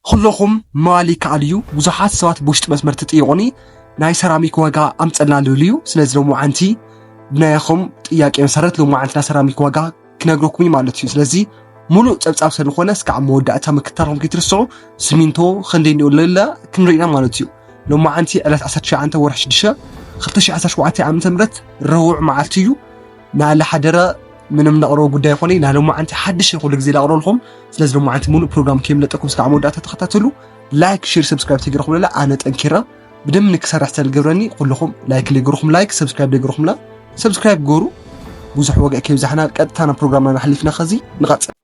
ኹሎኹም ምባል ይከኣል እዩ ብዙሓት ሰባት ብውሽጢ መስመር ትጥይቁኒ ናይ ሰራሚክ ዋጋ ኣምፀልና ልብሉ እዩ ስለዚ ሎምዓንቲ ብናይኹም ጥያቄ መሰረት ሎምዓንቲ ናይ ሰራሚክ ዋጋ ክነግረኩም እዩ ማለት እዩ ስለዚ ሙሉእ ፀብፃብ ሰለኾነ እስካዕ መወዳእታ ምክታልኩም ከይትርስዑ ስሚንቶ ክንደይ እንዲኡ ልላ ክንርኢና ማለት እዩ ሎምዓንቲ ዕለት 19 ወርሒ 6 2017 ዓ.ም ረቡዕ መዓልቲ እዩ ንኣለ ሓደረ ምንም ነቕረቦ ጉዳይ ይኾነ ናሎማዓንቲ ሓድሽ ኩሉ ግዜ ላቕረልኹም ስለዚ ሎማዓንቲ ሙሉእ ፕሮግራም ከይምለጠኩም ስካዕ መወዳእታ ተኸታተሉ ላይክ ሽር ሰብስክራይብ ተገይረኹምለላ ኣነ ጠንኪረ ብደም ንክሰርሕ ዝተልገብረኒ ኩልኹም ላይክ ለይገርኹም ላይክ ሰብስክራይብ ለይገርኹምላ ሰብስክራይብ ገሩ ብዙሕ ወግዕ ከይብዛሕና ቀጥታ ናብ ፕሮግራምና ናሕሊፍና ከዚ ንቐፅል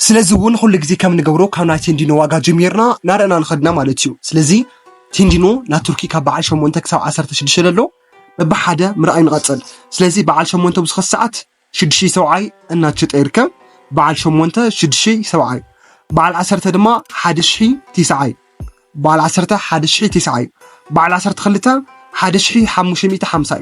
ስለዚ እውን ኩሉ ግዜ ከም ንገብሮ ካብ ናይ ቴንዲኖ ዋጋ ጀሚርና ናረእና ንኸድ ኢና ማለት እዩ። ስለዚ ቴንዲኖ ናይ ቱርኪ ካብ በዓል ሸሞንተ ክሳብ ዓሰርተ ሽዱሽተ ለሎ በብሓደ ምርኣይ ንቐጽል። ስለዚ በዓል ሸሞንተ ኣብዚ ኸዚ ሰዓት ሽዱሽይ ሰብዓይ እናትሸጠ ይርከብ። በዓል ሸሞንተ ሽዱሽይ ሰብዓይ፣ በዓል ዓሰርተ ድማ ሓደ ሽሒ ቴስዓይ፣ በዓል ዓሰርተ ሓደ ሽሒ ቴስዓይ፣ በዓል ዓሰርተ ክልተ ሓደ ሽሒ ሓሙሽተ ሚእቲ ሓምሳይ፣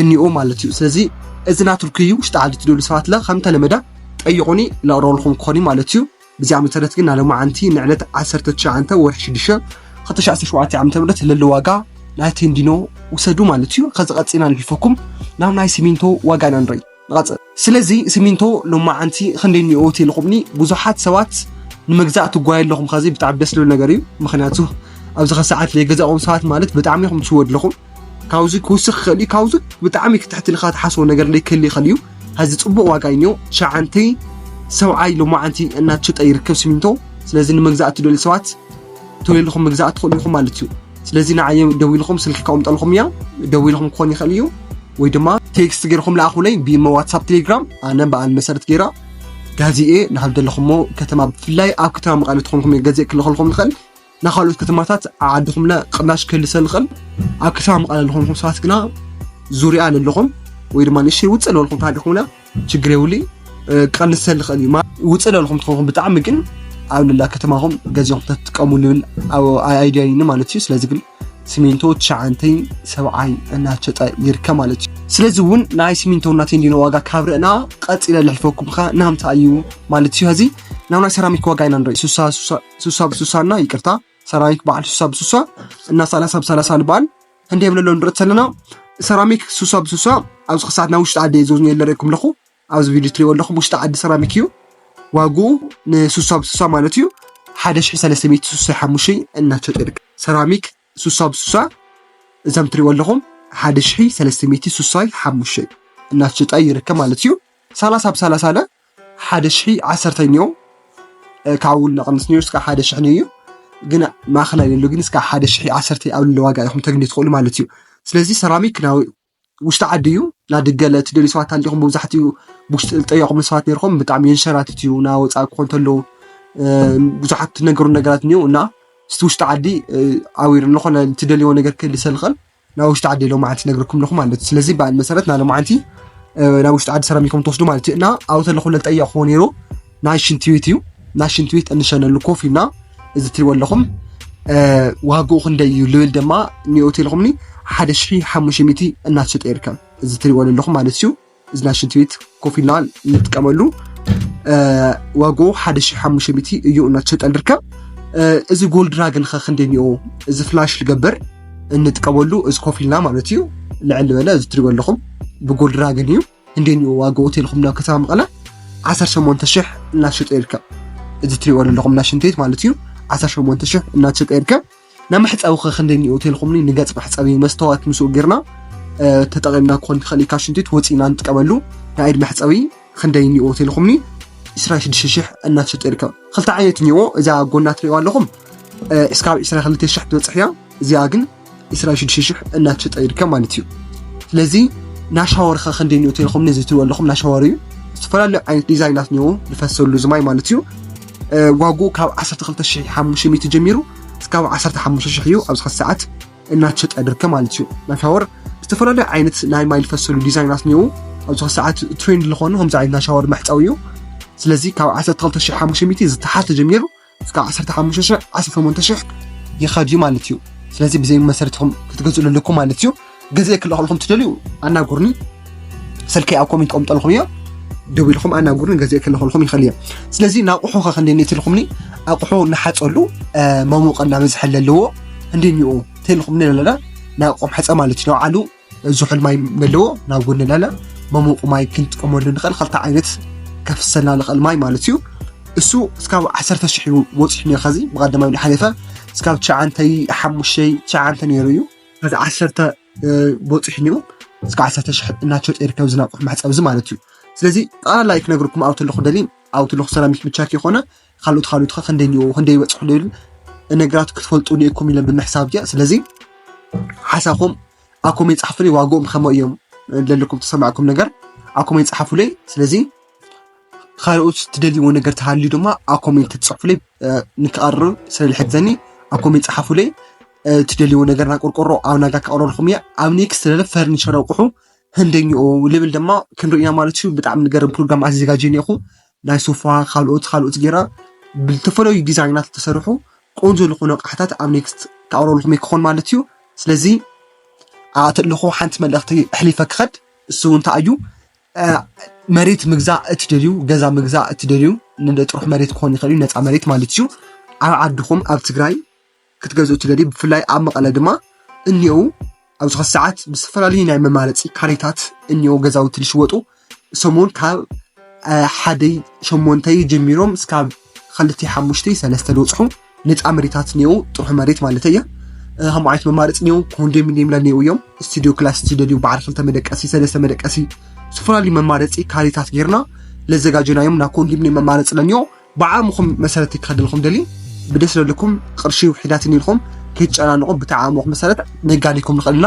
እኒኦ ማለት እዩ ስለዚ እዚ ናትርኩ እዩ ውሽጢ ዓዲ ትደሉ ሰባት ለ ከም ተለመደ ጠይቁኒ ለቅረበልኩም ክኾን እዩ ማለት እዩ ብዚኣ መሰረት ግን ናለማዓንቲ ንዕለት 19 ወርሒ 6 2017 ዓ ም ለለ ዋጋ ናይ ቴንዲኖ ውሰዱ ማለት እዩ ከዚ ቀፂና ንሕልፈኩም ናብ ናይ ሲሚንቶ ዋጋ ኢና ንርኢ ንቐጽል። ስለዚ ስሚንቶ ሎማዓንቲ ክንደይ እኒኦ ትይልኹምኒ ብዙሓት ሰባት ንምግዛእ ትጓዩ ኣለኹም ኸዚ ብጣዕሚ ደስ ዝብል ነገር እዩ ምክንያቱ ኣብዚ ኸዚ ሰዓት ዘይገዛእኩም ሰባት ማለት ብጣዕሚ ኢኹም ትሽወዱ ኣለኹም ካብዚ ክውስኽ ይኽእል እዩ ካብዚ ብጣዕሚ ክትሕቲ ኢልካ ትሓስቦ ነገር እንደ ክህሊ ይኽእል እዩ ሀዚ ጽቡቕ ዋጋ እዩ እኒኦ ሸዓንተይ ሰብዓይ ሎማዓንቲ እናተሸጠ ይርከብ ስሚንቶ ስለዚ ንምግዛእ ትደልዩ ሰባት ተወይልኹም ምግዛእ ትኽእሉ ኢኹም ማለት እዩ ስለዚ ንዓይ ደዊልኩም ስልኪ ከቕምጠልኩም እያ ደዊልኩም ክኾን ይኽእል እዩ ወይ ድማ ቴክስት ገይርኩም ለኣኹለይ ብኢሞ ዋትሳፕ ቴሌግራም ኣነ በዓል መሰረት ገይራ ጋዜኤ ናብ ዘለኹሞ ከተማ ብፍላይ ኣብ ከተማ መቐለ ትኾንኩም እየ ገዜእ ክልኸልኩም ንኽእል ናብ ካልኦት ከተማታት ዓድኹምለ ቅናሽ ክህልሰ ንኽእል ኣብ ከተማ መቐለ ዝኾንኩም ሰባት ግና ዙርያ ለለኹም ወይ ድማ ንእሽተይ ውፅእ ዝበልኩም ተሃሊኹምና ችግር የብሉይ ክቐንሰ ዝኽእል እዩ ውፅእ ለልኹም ትኸውን ብጣዕሚ ግን ኣብ ልላ ከተማኹም ገዚኹም ተትጥቀሙ ልብል ኣይዲያ ይኒ ማለት እዩ ስለዚ ግን ሲሚንቶ ትሸዓንተይ ሰብዓይ እናሸጠ ይርከብ ማለት እዩ ስለዚ እውን ናይ ሲሚንቶ እናተይ እንዲነ ዋጋ ካብ ርእና ቀፂለ ልሕልፈኩም ከ ናምታ እዩ ማለት እዩ ሀዚ ናብ ናይ ሰራሚክ ዋጋ ኢና ንርኢ ሱሳ ብሱሳ እና ይቅርታ ሰራሚክ በዓል ሱሳ ብሱሳ እና ሰላሳ ብሰላሳ ልበሃል ክንደይ የብለሎ ንርኢ ተለና ሰራሚክ ሱሳ ብሱሳ ኣብዚ ክሳዕ ናብ ውሽጢ ዓዲ እየ ዘዝንዮ ኣለሪኩም ኣለኹ ኣብዚ ቪድዮ ትሪእዎ ኣለኹም ውሽጢ ዓዲ ሰራሚክ እዩ ዋግኡ ንሱሳ ብሱሳ ማለት እዩ ሓደ ሽሕ ሰለስተ ሚእቲ ሱሳ ሓሙሽተ እናሸጡ ይርከብ ሰራሚክ ሱሳ ብሱሳ እዛም ትሪእዎ ኣለኹም ሓደ ሽሒ ሰለስተ ሚእቲ ሱሳይ ሓሙሽተ እናሸጣ ይርከብ ማለት እዩ ሰላሳ ብሰላሳ ለ ሓደ ሽሒ ዓሰርተኞ ካብ ውልዶ ቀንስ ነይሩ እስካብ ሓደ ሽሕ ነይሩ ግን ማእኸላይ ዘሎ ግን እስካብ ሓደ ሽሕ ዓሰርተ ኣብ ልዕሊ ዋጋ ኢኹም ተግንዩ ትኽእሉ ማለት እዩ። ስለዚ ሰራሚክ ናይ ውሽጢ ዓዲ እዩ ናብ ደገ ትደልዩ ሰባት ኣንዲኹም መብዛሕትኡ ብውሽጢ ዝጠየቑም ሰባት ነይርኩም ብጣዕሚ የንሸራትት እዩ ናብ ወፃኢ ክኾን ተሎ ብዙሓት ትነገሩ ነገራት እኒኡ እና እስቲ ውሽጢ ዓዲ ኣብ ዝኾነ ትደልይዎ ነገር ክህልሰልኽን ናብ ውሽጢ ዓዲ ሎማዓንቲ ነግርኩም ኣለኹ ማለት እዩ ስለዚ በኣን መሰረት ናብ ሎማዓንቲ ናብ ውሽጢ ዓዲ ሰራሚኮም ትወስዱ ማለት እዩ እና ኣብኡ ተለኹ ለጠየቕኹዎ ነይሩ ናይ ሽንቲ ቤት እዩ ናይ ሽንቲ ቤት እንሸነሉ ኮፍ ኢልና እዚ ትሪእዎ ኣለኹም ዋግኡ ክንደይ እዩ ልብል ድማ ኒኦ ቴሌኮምኒ ሓደ ሽሒ ሓሙሽተ ሚእቲ እናተሸጠ ይርከብ እዚ ትሪእዎ ዘለኹም ማለት እዩ እዚ ናይ ሽንቲ ቤት ኮፍ ኢልና እንጥቀመሉ ዋግኡ ሓደ ሽሕ ሓሙሽተ ሚእቲ እዩ እናተሸጠ ንርከብ እዚ ጎልድ ራግን ከ ክንደይ እኒኦ እዚ ፍላሽ ልገበር እንጥቀመሉ እዚ ኮፍ ኢልና ማለት እዩ ልዕሊ በለ እዚ ትሪእዎ ኣለኹም ብጎልድ ራግን እዩ ክንደይ እኒኦ ዋግኡ ቴልኩም ናብ ከተማ መቐለ ዓሰርተ ሸሞንተ ሽሕ እናተሸጠ ይርከብ እዚ ትሪእዎ ኣለኹም ናይ ሽንቲ ቤት ማለት እዩ ዓሰርተ ሸሞንተ ሽሕ እናተሸጠ ይርከብ ንመሕጸቢ ከ ክንደይ እኒኦ ተልኩምኒ ንገጽ መሕጸቢ መስተዋት ምስኡ ጌርና ተጠቒምና ክኾን ይኽእል ካብ ሽንቲ ቤት ወጺእና ንጥቀመሉ ናይ ኢድ መሕጸቢ ክንደይ እኒኦ ተልኩምኒ 26 ሽሕ እናተሸጠ ይርከብ ክልተ ዓይነት እኒኦ እዛ ጎና ትሪእዋ ኣለኹም እስካብ 22 ሽሕ ትበጽሕ እያ እዚኣ ግን 26 ሽሕ እናተሸጠ ይርከብ ማለት እዩ ስለዚ ናሻወር ከ ክንደይ እኒኦ ተልኩምኒ እዚ ትሪእዎ ኣለኹም ናሻወር እዩ ዝተፈላለዩ ዓይነት ዲዛይናት እኒኦ ዝፈሰሉ ዝማይ ማለት እዩ ዋግኡ ካብ ዓሰርተ ክልተ ሽሕ ሓሙሽተ ሚእቲ ጀሚሩ እስካብ ዓሰርተ ሓሙሽተ ሽሕ እዩ ኣብዚ ሕዚ ሰዓት እናተሸጠ ድርከ ማለት እዩ ናይ ሻወር ዝተፈላለዩ ዓይነት ናይ ማይ ዝፈሰሉ ዲዛይናት እኒዉ ኣብዚ ሕዚ ሰዓት ትሬንድ ዝኾኑ ከምዚ ዓይነት ናይ ሻወር መሕፀዊ እዩ ስለዚ ካብ ዓሰርተ ክልተ ሽሕ ሓሙሽተ ሚእቲ ዝተሓተ ጀሚሩ እስካብ ዓሰርተ ሓሙሽተ ሽሕ ዓሰርተ ሸሞንተ ሽሕ ይኸድ እዩ ማለት እዩ ስለዚ ብዘይ መሰረት ኢኹም ክትገዝእሉ ኣለኩም ማለት እዩ ግዜ ክልእኸልኹም ትደልዩ ኣናጉርኒ ስልከይ ኣብ ኮሜንት ቆምጠልኹም እዮ ደው ኢልኹም ኣናጉርን ገዜ ክልኸልኹም ይኽእል እየ ስለዚ ናቑሑ ከ ክንደኒ ትልኹምኒ ኣቑሑ ንሓፀሉ መሞቕ እናበዝሐ ዘለዎ እንዲኒኡ ተልኹምኒ ኣለና ናቑም ሕፀ ማለት እዩ ንባዕሉ ዝሑል ማይ ዘለዎ ናብ ጎኒ ኣለና መሞቑ ማይ ክንጥቀመሉ ንኽእል ክልተ ዓይነት ከፍሰልና ንኽእል ማይ ማለት እዩ እሱ እስካብ ዓሰርተ ሽሕ እዩ ወፂሑ ነኸዚ ብቐዳማይ ሓሊፈ እስካብ ትሽዓንተይ ሓሙሽተይ ትሽዓንተ ነይሩ እዩ እዚ ዓሰርተ በፂሑ እኒኦ እስከ ዓሰርተ ሽሕ እናተሸጠ ይርከብ እዚ ናቕሑ መሕፀቢ እዚ ማለት እዩ ስለዚ ጠቕላላ እዩ ክነግርኩም ኣብኡ ተለኹ ደሊ ኣብኡ ተለኹ ሰራሚክ ብቻ ከይኮነ ካልኦት ካልኦት ከ ክንደይ እኒኦ ክንደይ ይበፅሑ ዶ ይብል ነገራት ክትፈልጡ እኒኦኩም ኢለ ብምሕሳብ እያ ስለዚ ሓሳኹም ኣኮመ ይፅሓፉለይ ዋግኦም ከመይ እዮም ዘለኩም ተሰማዕኩም ነገር ኣኮመ ይፅሓፉለይ ስለዚ ካልኦት ትደልይዎ ነገር ተሃልዩ ድማ ኣብ ኮሜንት ትፅሕፉለይ ንክቐርብ ስለዝሕግዘኒ ኣብ ኮሜንት ፀሓፉለይ እትደልይዎ ነገር ናብ ቆርቆሮ ኣብ ናጋ ከቕረልኩም እያ ኣብ ኔክስት ለለ ፈርኒቸር ኣቑሑ ህንደኛኡ ልብል ድማ ክንሪኦ ኢና ማለት እዩ ብጣዕሚ ንገርም ፕሮግራም ኣዘጋጅየ እኒኹ ናይ ሶፋ ካልኦት ካልኦት ጌራ ብዝተፈላለዩ ዲዛይናት ዝተሰርሑ ቆንጆ ዝኾኑ ኣቕሓታት ኣብ ኔክስት ከቕረልኩም እየ ክኾን ማለት እዩ ስለዚ ኣተለኹ ሓንቲ መልእኽቲ ኣሕሊፈ ክኸድ እሱ እውን እንታይ እዩ መሬት ምግዛእ እትደልዩ ገዛ ምግዛእ እትደልዩ ንጥሩሕ መሬት ክኾን ይኽእል እዩ ነፃ መሬት ማለት እዩ ኣብ ዓድኹም ኣብ ትግራይ ክትገዝኡ እትደልዩ ብፍላይ ኣብ መቐለ ድማ እኒኦው ኣብዚ ኸዚ ሰዓት ብዝተፈላለዩ ናይ መማረፂ ካሬታት እኒኦ ገዛውቲ ዝሽወጡ ሰሙን ካብ ሓደይ ሸሞንተይ ጀሚሮም እስካብ ክልተይ ሓሙሽተይ ሰለስተ ዝወፅሑ ነፃ መሬታት እኒኦ ጥርሑ መሬት ማለት እየ ከምኡ ዓይነት መማረፂ እኒኦ ኮንዶሚኒየም ላ እኒኦ እዮም ስቱዲዮ ክላስ ዝደልዩ በዓል ክልተ መደቀሲ ሰለስተ መደቀሲ ዝተፈላለዩ መማረፂ ካሬታት ጌርና ለዘጋጀናዮም ናብ ኮንዶሚኒየም መማረፂ ለኒኦ ብዓቕምኹም መሰረት ክኸደልኩም ደልዩ ብደስ ዘለኩም ቅርሺ ውሒዳትኒ ኢልኩም ከይትጨናንቑ ብቲ ዓቕምኹም መሰረት ነጋዲኩም ንኽእል ኢና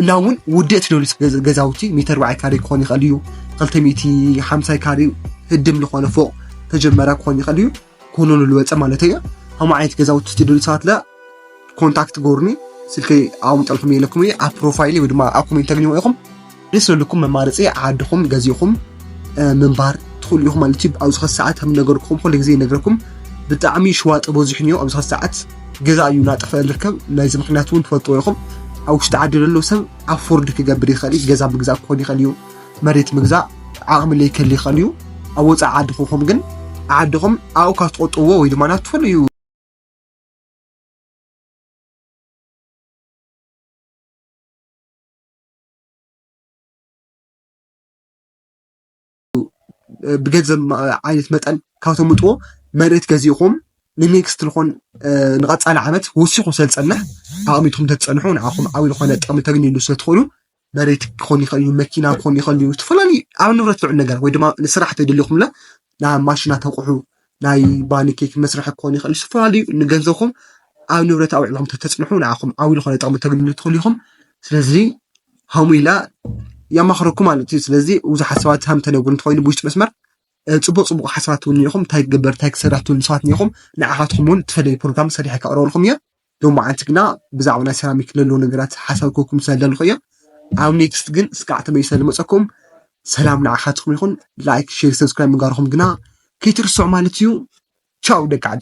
እና እውን ውድእ ትደልዩ ገዛውቲ ሚተር ባዓይ ካሬ ክኾን ይኽእል እዩ ክልተ ሚእቲ ሓምሳይ ካሬ ህድም ዝኾነ ፎቕ ተጀመራ ክኾን ይኽእል እዩ ክውንኑ ዝወፀ ማለት እዩ ከምኡ ዓይነት ገዛውቲ ትደልዩ ሰባት ኮንታክት ጎርኒ ስልኪ ኣቐምጠልኩም የለኩም እየ ኣብ ፕሮፋይል ወይ ድማ ኣብ ኮሜንት ተግኝዎ ኢኹም ደስ ዘለኩም መማረፂ ዓድኹም ገዚእኹም ምንባር ትኽእሉ ኢኹም ማለት እዩ ኣብዚ ኸዚ ሰዓት ከም ነገርኩም ኩሉ ግዜ ይነግረኩም ብጣዕሚ ሽዋጥ በዚሕን እዩ ኣብዚ ኸዚ ሰዓት ገዛ እዩ እናጠፍአ ዝርከብ ናይዚ ምክንያት እውን ትፈልጥዎ ኢኹም ኣብ ውሽጢ ዓዲ ዘሎ ሰብ ኣፎርድ ክገብር ይኽእል እዩ ገዛ ምግዛእ ክኾን ይኽእል እዩ መሬት ምግዛእ ዓቕሚ ለይከል ይኽእል እዩ ኣብ ወፃኢ ዓዲ ክኹም ግን ዓድኹም ኣብኡ ካብ ትቆጥብዎ ወይ ድማ ናብ ትፈልዩ ብገንዘብ ዓይነት መጠን ካብ ተምጥዎ መሬት ገዚእኹም ንኔክስት ዝኾን ንቐፃሊ ዓመት ወሲኹ ስለዝፀንሕ ኣቐሚጥኩም ተትፀንሑ ንዓኹም ዓብዪ ዝኾነ ጥቕሚ ተግንዩሉ ስለትኽእሉ መሬት ክኾን ይኽእል እዩ፣ መኪና ክኾን ይኽእል እዩ፣ ዝተፈላለዩ ኣብ ንብረት ዝውዕል ነገር ወይ ድማ ንስራሕ እንተይደሊኹምለ ናይ ማሽናት ኣቑሑ ናይ ባኒ ኬክ መስርሒ ክኾን ይኽእል እዩ። ዝተፈላለዩ ንገንዘብኹም ኣብ ንብረት ኣውዒልኩም እንተተፅንሑ ንዓኹም ዓብዪ ዝኾነ ጥቕሚ ክተግንዩ ትኽእሉ ኢኹም። ስለዚ ከምኡ ኢላ የማኽረኩም ማለት እዩ። ስለዚ ብዙሓት ሰባት ከም ተነግሩ እንተኾይኑ ብውሽጢ መስመር ፅቡቅ ፅቡቅ ሓሳባት እውን እኒኦኹም እንታይ ክግበር እንታይ ክስራሕ ትብሉ ሰባት እኒኦኹም ንዓኻትኩም እውን እትፈለዩ ፕሮግራም ሰሪሐ ከቅርበልኩም እየ። ሎማዓንቲ ግና ብዛዕባ ናይ ሰራሚክ ለለዉ ነገራት ሓሳብ ክህበኩም ስለዝደለኹ እየ። ኣብ ኔክስት ግን እስካዕ ተመሊሰ ስለዝመፀኩም ሰላም ንዓኻትኩም ይኹን። ላይክ፣ ሼር፣ ሰብስክራይብ ምግባርኹም ግና ከይትርስዑ ማለት እዩ። ቻው ደቂ ዓደይ።